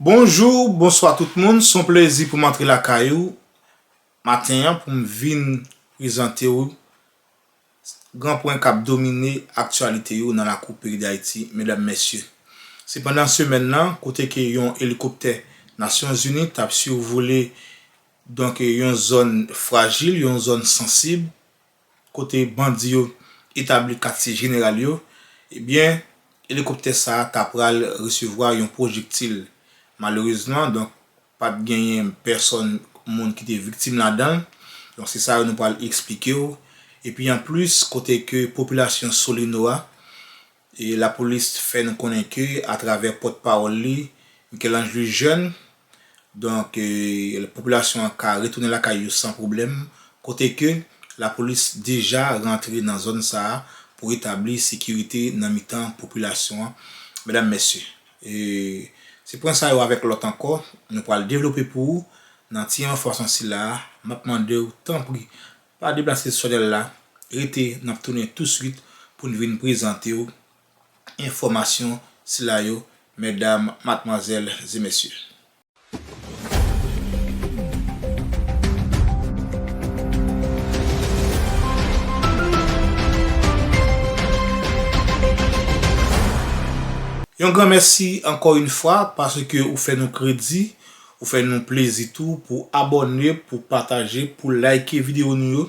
Bonjou, bonswa tout moun, son plezi pou m antre lakay ou maten an pou m vin prezante ou Gran pwen kap domine aktyalite yo nan lakou peyi Dayiti medam mesye. Se pandan semèn lan kote ke yon elikoptè Nasyon Zini tap survole donk yon zòn frajil, yon zòn sansib kote bandi yo etabli katye jeneral yo, ebyen elikoptè sa ta pral resevwa yon pwojektil. Malerezman donk Pa t genyen pèsòn moun ki te viktim ladan l. Donk se sa yo nou pral eksplike w. Epi anplis kote ke popilasyon Solino a, lapolis fè nou konnen ke atravè pòt pawòl li, Michel-Ange Lujeune, donk popilasyon an ka retounen lakay yo san pwoblèm, kote ke lapolis deja rantre nan zòn sa a pou retabli sekirite nan mitan popilasyon an. Medam, mesye. E se pwen sa yo avèk lòt ankò nou pral devlope pou ou nan ti enfòsman sila a, m ap mande ou tanpri pa deplase sòlèl la, rete n ap tounen touswit pou n vin prezante ou enfòmasyon sila yo mètdam, matmwazèl e mèsye. Yon gran mèsi ankò yn fwa paske ou fè nou kredi, ou fè nou plezi tou pou abòne, pou pataje, pou like video nou yo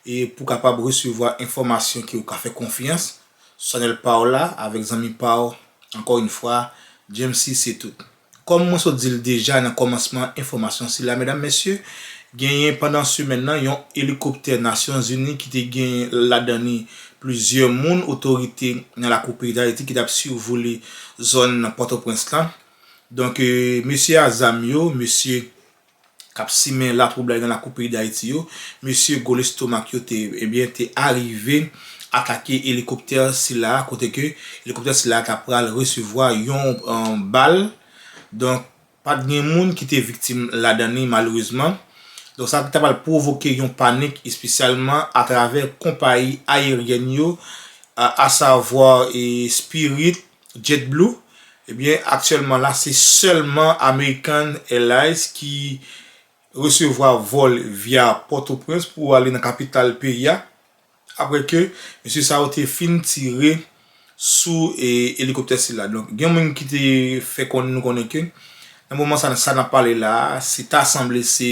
e pou kapab resevwa enfòmasyon ke ou ka fè konfyans sou chanèl paw la avèk zanmi paw ankò yn fwa Jamesy se tout. Kòm mwen sot di l deja nan kòmansman enfòmasyon sila, medam, mesye, genyen pandan semèn nan yon elikoptè Nasyonzini ki te gen ladan li plizyè moun otorite nan lakou peyi Dayiti ki t ap sivole zòn Pòtoprens lan. Donk, mesye a zam yo, mesye. k ap simen latwoublay nan lakou peyi Dayiti yo, mesye gwo lestomak yo te ebyen te arive atake elikoptè sila a kote ke elikoptè sila a ta pral resevwa yon bal donk pa t gen moun ki te viktim ladan li malerezman donk sa ta pral pwovoke yon panik espesyalman atravè konpayi ayeryèn yo asavwa Spirit JetBlue, ebyen aktyèlman la se sèlman American Airlines ki resevwa vòl via Pòtoprens pou ale nan kapital peyi a, aprè ke mesye sa yo te fin tire sou elikoptè sila. Donk gen yon moun ki te fè konn nou konnen ke nan moman sa sa nap pale la a, se ta sanble se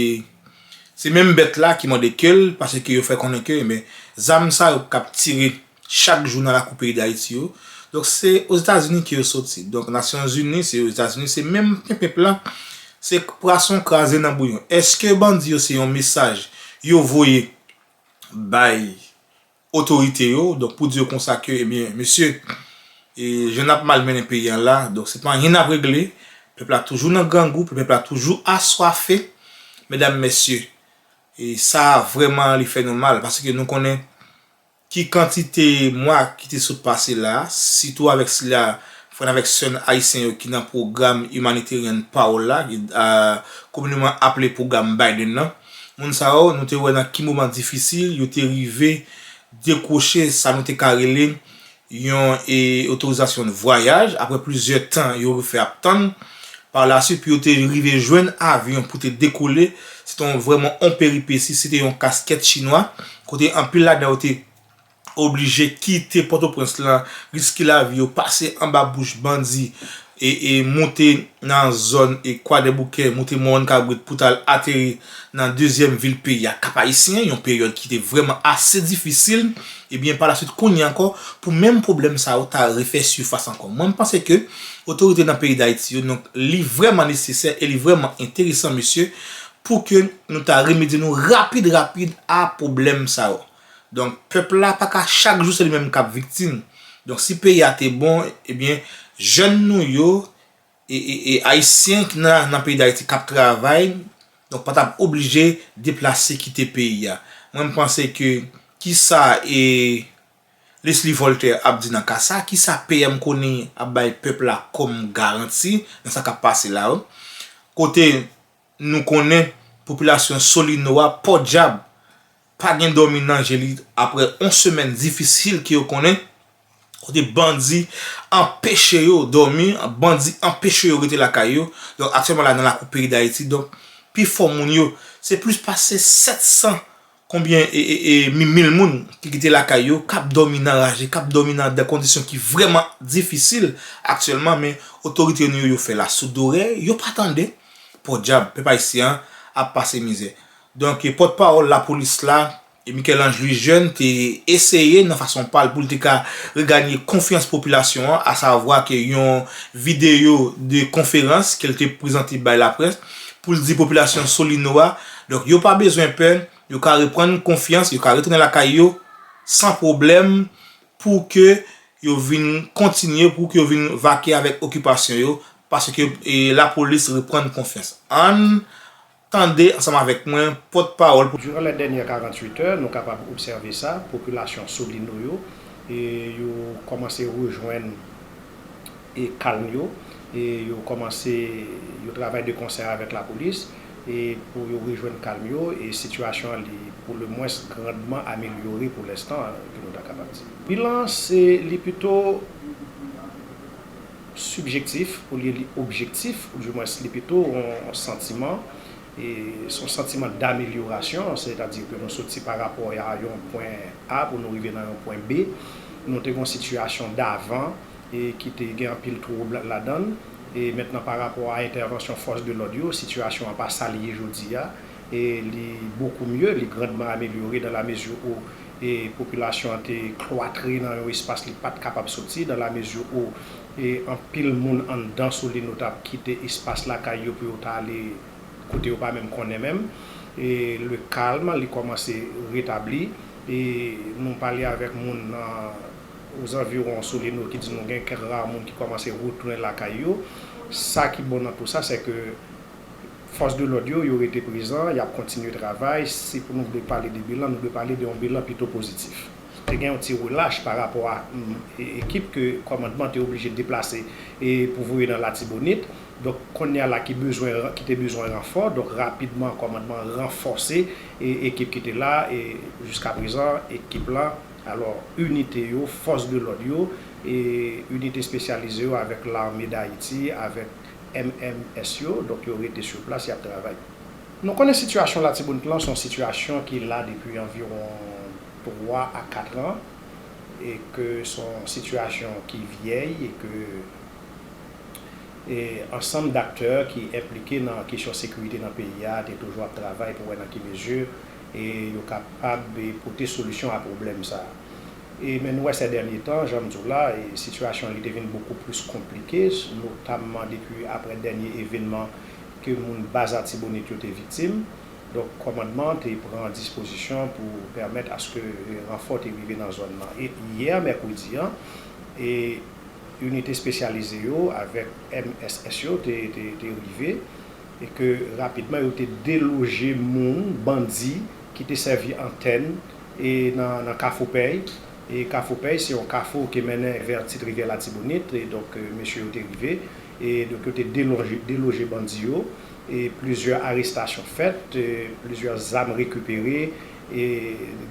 se menm bèt la ki mande ke l, paske yo fè konnen ke, ebyen zam sa yo kap tire Chak jou nan lakou peyi dayiti yo. Donk se ozetazini ke yo soti. Donk nasyon zini se ozetazini se menm penpenp la. Se pwason kraze nan bouyon. Eske bandi yo se yon mesaj yo voye bay otorite yo. Donk pou di yo konsa ke ebyen mesye e jan nap mal mennen peyi an la. Donk se pa anyen nap regle. Pèp la toujou nan grangou. Pèp la toujou aswafe. Medam mesye. E sa vreman li fè nou mal. Paske nou konnen. Ki kantite mwa ki te sot pase la a, sitou avèk sila frè n avèk sè n ayisyen yo ki nan pwogram Humanitarian Pawl la, ki komineman aple pwogram Biden nan, moun sa yo, nou te wè nan ki moman difisil yo te rive dekwoche sa nou te ka rele yon otorizasyon vwayaj, apre plizyè tan yo fè ap tann, pa lasuit pou yo te rive jwenn avyon pou te dekole, se te vrèman yon peripesi, se te yon kaskèt chinwa. kote anpil ladan yo te oblije kite Pòtoprens lan, riske lavi yo, pase anba bouch bandi e moute nan zòn Kwadèboukè, moute Mòwonn Kabrit pou t al ateri nan dezyèm vil peyi a, Kap-Ayisyen, yon peryòd ki te vrèman ase difisil, ebyen palasuit kounye ankò pou menm pwoblèm sa yo ta refè sifas ankò. Mwen m panse ke otorite nan peyi Dayiti yo, donk li vrèman nesesè e li vrèman enteresan mesye pou ke nou ta remedye nou rapid rapid a pwoblèm sa yo. Donk pèp la pa ka chak jou se li menm k ap viktim. Donk si peyi a te bon, ebyen jèn nou yo e ayisyen ki nan peyi Dayiti k ap travay, donk pa t ap oblije deplase kite peyi a. Mwen m panse ke ki sa e Lesly Voltè ap di nan ka sa? Ki sa PM Conille ap bay pèp la kòm garanti nan sa k ap pase la yo? Kote Nou konnen popilasyon Solino a pòdyab pa gen dòmi nan je li aprè on semèn difisil ke yo konnen, kote bandi anpeche yo dòmi, bandi anpeche yo rete lakay yo. Donk aktyèlman la nan lakou peyi Dayiti donk pifò moun yo se plis pase 700 Konbyen mil moun ki kite lakay yo, k ap dòmi nan raje, k ap dòmi nan de kondisyon ki vrèman difisil aktyèlman men otorite nou yo yo fè la soud dorè, yo pa tande. Pòdyab, pèp ayisyen an ap pase mizè. Donk pòt pawòl lapolis la, Michel Ange Louis Jeune te eseye nan fason pa l pou l te ka reganye konfyans popilasyon an a savwa ke yon videyo de konferans ke l te prezante bay laprès pou l di popilasyon Solino a Donk yo pa bezwen pè, yo ka reprann konfyans, yo ka retounen lakay yo san pwoblèm pou ke yo vin kontinye, pou ke yo vin vake avèk okipasyon yo, paske lapolis reprann konfyans. Ann tande ansanm avèk mwen pòt pawòl pou. Duran lè dènyè 48 è, nou kapab obsève sa, popilasyon Solino yo, yo kòmanse rejwenn. e kalm yo e yo kòmanse yo travay de konsè avèk lapolis e pou yo rejwenn kalm yo e sitiyasyon an li pou le mwens grandman amelyore pou lenstan an ke nou ta kapab di. Bilan an se li pito sibjektif olye li objektif ou di mwens li pito on santiman e se yon santiman damelyorasyon sètadi ke nou soti pa rapò a yon pwen A pou nou rive nan yon pwen B nou te gen yon sitiyasyon davan e ki te gen anpil twoub ladan l, e mentnan pa rapò a entèvansyon fòs de lòd yo, sitiyasyon an pa sa li ye jodi a, e li bokou mye, li grandman amelyore dan la mezi ou e popilasyon an te klwatre nan yon espas li pat kapab soti, dan la mezi ou e anpil moun anndan Solino t ap kite espas lakay yo pou yo ta ale kote yo pa menm konnen menm, e le calme li kòmanse retabli, e nou pale avèk moun nan. Ozanviwon Solino ki di nou gen kèk ra moun ki kòmanse retounen lakay yo. Sa ki bon nan tou sa, sè ke fòs de lòd yo, yo rete prezan, y ap kontinye travay. Si pou nou vle pale de bilan, nou dwe pale de yon bilan pito pozitif. Te gen yon ti relach pa rapò a ekip ke kòmandman te oblije deplase pou voye nan Latibonit. Donk, kounye a la ki bezwen, ki te bezwen ranfò, donk rapidman kòmandman ranfòse ekip ki te la e jiskaprezan ekip la Alò, inite yo, fòs de lòd yo, e inite espesyalize yo avèk Lame Dayiti, avèk MMS yo, donk yo rete sou plas, y ap travay. Nou konnen sitiyasyon Latibonit lan se yon sitiyasyon ki la depi anviwon 3 a 4 an, e ke se yon sitiyasyon ki vyèy, e ke ansanm daktè ki enplike nan kesyon sekirite nan peyi a te toujou ap travay pou wè nan ki mezi E yo kapab pote solisyon a pwoblèm sa a. E men nou wè sè dènye tan, jan m di w la, e sitiyasyon li te vin bokou plis konplike, notamman depi aprè dènye evènman ke moun baz Atibonit yo te viktim. Donk kòmandman an te pran dispozisyon pou pèmèt aske ranfò te rive nan zòn lan. E yè mèkredi an, e inite espesyalize yo avèk mss yo te rive. e ke rapidman yo te deloje moun, bandi, ki te sèvi antèn e nan Kafou Pèy, e Kafou Pèy se yon kafou ki mennen vè Tit Rivyè Latibonit, e donk mesye yo te rive, e donk yo te deloje bandi yo, e plizyè arestasyon fèt, plizyè zam rekipere, e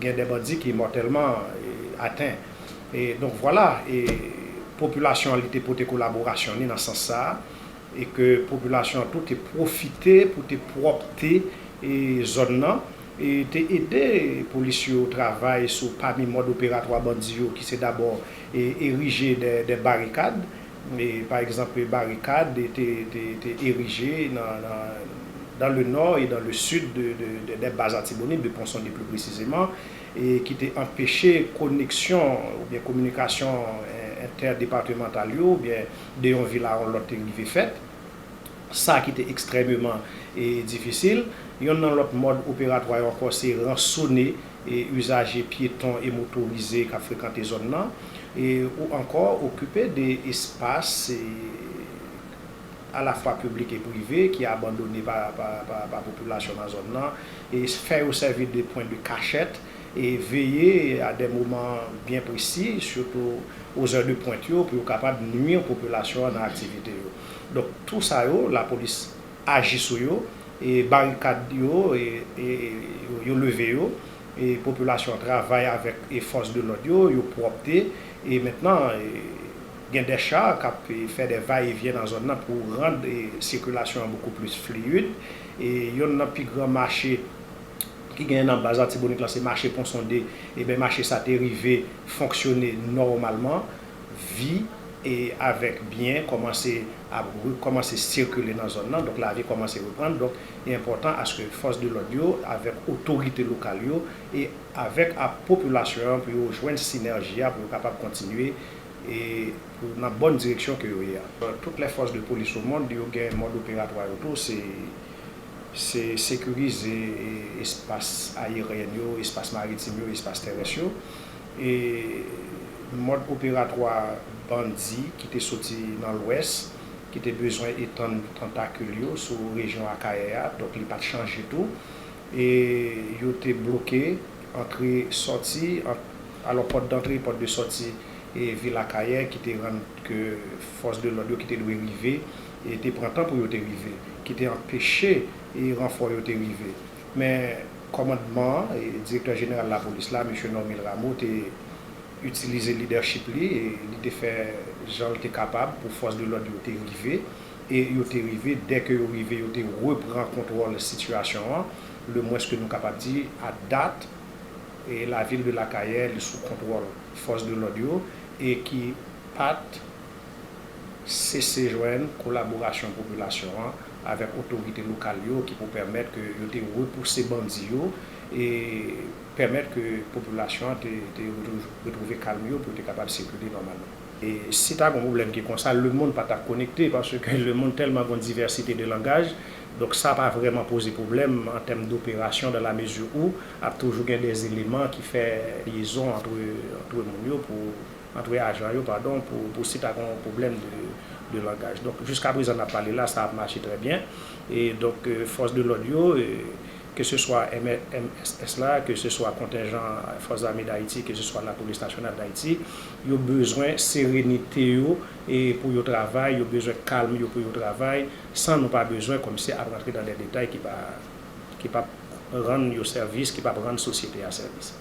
gen de bandi ki mòtèlman aten. E donk vwala, e popilasyon an li te pote kolaborasyon ni nan sans sa a, e ke popilasyon an tou te pwofite pou te pwòpte zòn nan e te ede polis yo travay sou pami mòd operatwa bandi yo ki se dabò erije dè barikad e pa egzanp barikad te erije nan dan le nò e dan le sid dè baz atibonit de ponsonde pli presizeman e ki te anpeche koneksyon oubyen kominikasyon entèdepatemantal yo oubyen. de yon vil a yon lòt te rive fèt, sa ki te ekstrèmeman difisil. Yonn nan lòt mòd operatwa yo ankò se ransone izaje pyeton e motorize k ap frekante zòn nan, ou ankò okipe de espas alafwa piblik e prive ki abandone pa popilasyon nan zòn nan, fè yo sèvi de pwen de kachèt. E veye a dè moman byen presi, sitou o zè de pwent yo, pou yo kapab nwi popilasyon an nan aktivite yo. Donk, tou sa yo, lapolis aji sou yo, e barikad yo, yo leve yo, e popilasyon an travay avèk e fòs de lòd yo, yo pwòpte, e mentnan, gen dè cha k ap fè dè va e vyen nan zòn nan pou rand sikilasyon an bokou plis fliyid, e yonn nan pi gran mache ki genyen nan baz Latibonit lan se mache Pon Sonde, eben mache sa te rive fonksyone nòmalman, vi e avèk byen kòmanse ap rekòmanse sikile nan zòn nan, donk lavi kòmanse reprann, donk li enpòtan aske fòs de lòd yo avèk otorite lokal yo e avèk a popilasyon an pou yo jwenn sinèji a pou yo kapab kontinye e pou nan bòn direksyon ke yo ye a. Tout lè fòs de polis o mond yo gen mòd operatwa yo tou, se. se sekirize espas ayeryen yo, espas maritim yo, espas terès yo, e mòd operatwa bandi ki te soti nan lwès, ki te bezwen etann tantakil yo sou rejyon Akayè a, donk li pa t chanje tou, e yo te bloke antre sòti, alò pòt dantre e pòt de sòti vil Akayè ki te rann ke fòs de lòd yo ki te dwe rive. te pran tan pou yo te rive, ki te anpeche ranfò yo te rive. Men, kòmandman an, Direktè Jeneral Lapolis la, Mesye Normil Rameau, te itilize lidèchip li, li te fè jan l te kapab pou fòs de lòd yo te rive, e yo te rive, dè ke yo rive, yo te repran kontwòl sitiyasyon an, le mwens ke nou kapab di, a dat, lavil de Lakayè li sou kontwòl fòs de lòd yo, e ki pa t. sese jwenn kolaborasyon popilasyon an avèk otorite lokal yo ki pou pèmèt ke yo te repouse bandi yo e pèmèt ke popilasyon an te retwouve kalm yo pou yo te kapab sikile nòmalman. Si ta gon pwoblèm ki konsa, lemonn pa tap konekte paske lemonn tèlman gon divèsite de langaj, donk sa pa vrèman poze pwoblèm an tèm doperasyon dan la mezi ou ap toujou gen dè eleman ki fè lyezon antre moun yo pou antre ajan yo padon pou si ta gen yon pwoblèm de langaj donk jiska prezan nap pale la sa ap mache trè byen e donk fòs de lòd yo ke se swa mss la ke se swa kontenjan fòs zame dayiti ke se swa lapolis nasyonal dayiti yo bezwen serenite yo pou yo travay yo bezwen kalm yo pou yo travay san nou pa bezwen kòmsi ap rantre nan dè detay ki pap rann yo sèvis ki pap rann sosyete a sèvis.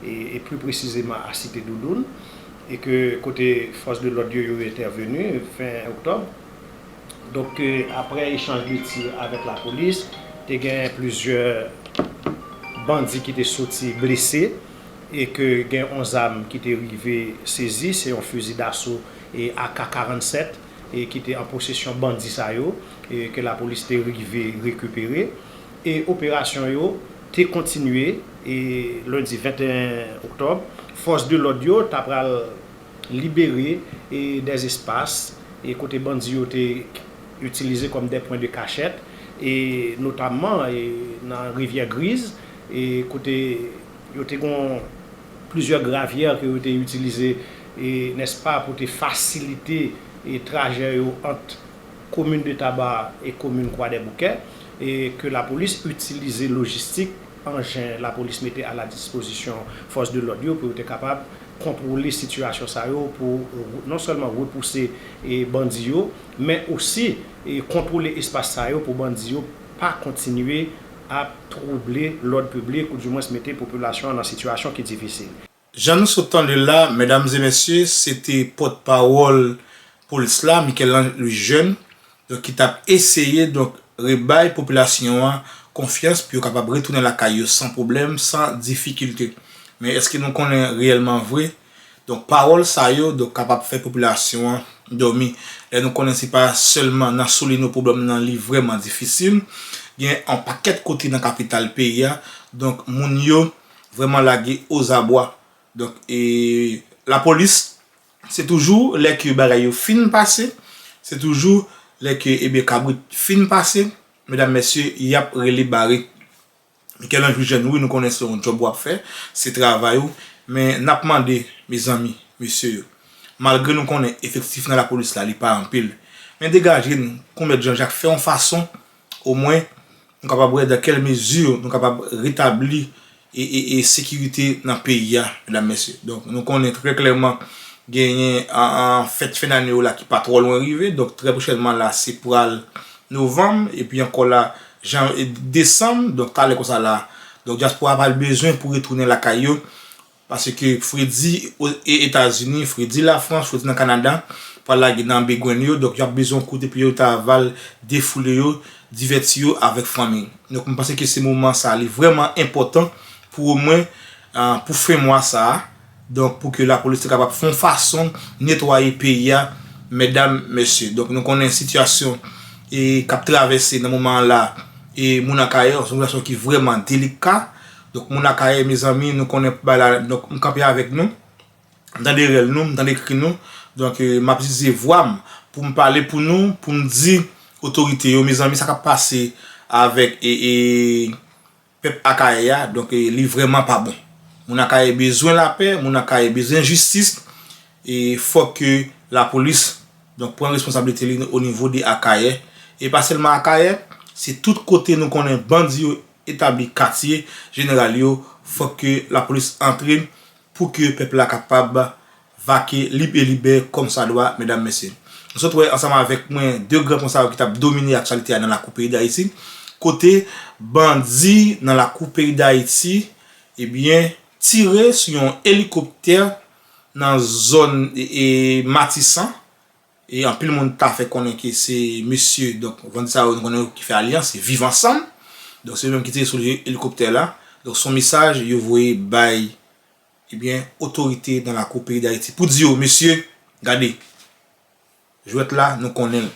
e pli presizeman a Site Doudoun, e ke kote fòs de lòd yo yo entèveni fen oktòb. Donk ke aprè echanj de tir avèk lapolis, te gen plizyè bandi ki te soti blese e ke gen yon zam ki te rive sezi, se yon fizi daso ak 47 ki te an posesyon bandi sa yo e ke lapolis te rive rekipere. E operasyon yo te kontinye e lendi 21 oktòb, fòs de lòd yo ta pral libere e des espas e kote bandi yo te itilize kòm des points de kachèt e notamman e nan Rivyè Griz e kote yo te gon plizyè gravière ke yo te itilize e nèspa pou te fasilite e trajè yo ant komin de Taba e komin Kwadèboukè e ke lapolis itilize lojistik anjen lapolis mete a la dispozisyon fòs de lòd yo pou yo te kapab kontwole sitiyasyon sa yo pou non sèlman repouse bandi yo men osi kontwole espas sa yo pou bandi yo pa kontinye ap twouble lòd piblik ou di mwens mete popilasyon an nan sitiyasyon ki difisil. Jan nou sot tande l la, medam e mesye, se te pòt pawòl polis la, Michel-Ange Louis Jeune, donk ki t ap eseye donk rebay popilasyon an konfyans pou yo kapab retounen lakay yo san pwoblèm, san difikilte. Men èske nou konnen reyèlman vre donk pawòl sa yo donk kapab fè popilasyon an dòmi? Lè nou konnen se pa sèlman nan Solino pwoblèm nan li vrèman difisil, gen yon pakèt kote nan kapital peyi a donk moun yo vrèman lage ozabwa. Donk e lapolis se toujou lè ke bagay yo fin pase, se toujou lè ke ebyen kabrit fin pase, medam mesye yap rele bare. Michel-Ange wi jèn wi nou konnen se yon djòb wap fè, se travay ou, men nap mande mezanmi mesye yo, malgre nou konnen efektif nan lapolis la li pa anpil, men degaje nou kou mèt Jean Jacques fè yon fason Omwen, nou kapab wè dan kèl mezi nou kapab retabli e sekirite nan peyi a, medam mesye. Donk, nou konnen trè klèman genyen fèt fen dane yo la ki pa twò lwen rive. Donk, trè pwochènman la, se pral novanm, epi ankò la, desanm. Donk, talè konsa la, donk dyaspora pral bezwen pou retounen lakay yo, Paske fredi e etazini, fredi la frans, fredi nan kanada pral lage nan begwenn yo donk yo ap bezwen yon kote pou yo ta val defoule yo, divèti yo avèk fanmi. Donk mwen panse ke se moman sa li vrèman enpòtan pou omwen pou fen mwa sa a donk pou ke lapolis te kapab fon fason netwaye peyi a mèdam, mesye. Donk nou konnen sitiyasyon e kap travèse nan moman an la e moun an kayè, se yon sitiyasyon ki vrèman delika. Donk moun akayè mezanmi nou konnen pou bay la donk m kanpe avèk nou m tande rèl nou m tande kri nou donk m ap itilize vwa m pou m pale pou nou pou m di otorite yo mezanmi sa k ap pase avèk pèp akayè a donk li vrèman pa bon moun akayè bezwen lapè moun akayè bezwen jistis e fòk ke lapolis donk pran responsablite li o nivo de akayè e pa sèlman akayè se tout kote nou konnen bandi yo. etabli katye jeneral yo fòk ke lapolis antre pou ke pèp la kapab vake lib e libè kòm sa dwa medam mesye nou sot wè ansanm avèk mwen 2 gran pwen sa yo ki tap domine aktyalite a nan lakou peyi dayiti kote bandi nan lakou peyi dayiti ebyen tire sou yon elikoptè nan zòn matisan E anpil moun ta fè konnen ke se mesye, donk bandi sa yo nou konnen yo ki fè alyans, se Viv Ansanm. Donk se yo menm ki te sou elikoptè la. Donk se yon mesaj yo voye bay ebyen otorite nan lakou peyi Dayiti pou di yo mesye gade jwèt la nou konnen l,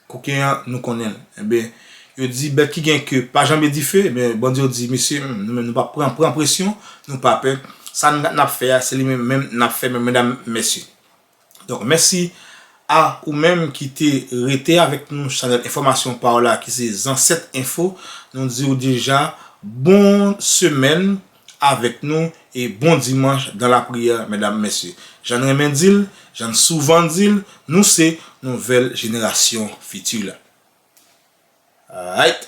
koken an nou konnen l. Enben yo di bèt ki gen ke pa janbe dife. Enben bandi yo di mesye nou menm nou pa pran pran presyon, nou pa pè. Sa n ap fè a se li menm menm n ap fè menm medam mesye. Donk mèsi a ou menm ki te rete avèk nou chanèl enfòmasyon paw la ki se Zansèt Enfo nou diw deja bon semèn avèk nou e bon dimanch dan la priyè mèdam mèsye jann renmen dil jann souvan dil nou se nouvèl jenerasyon fiti la aayt.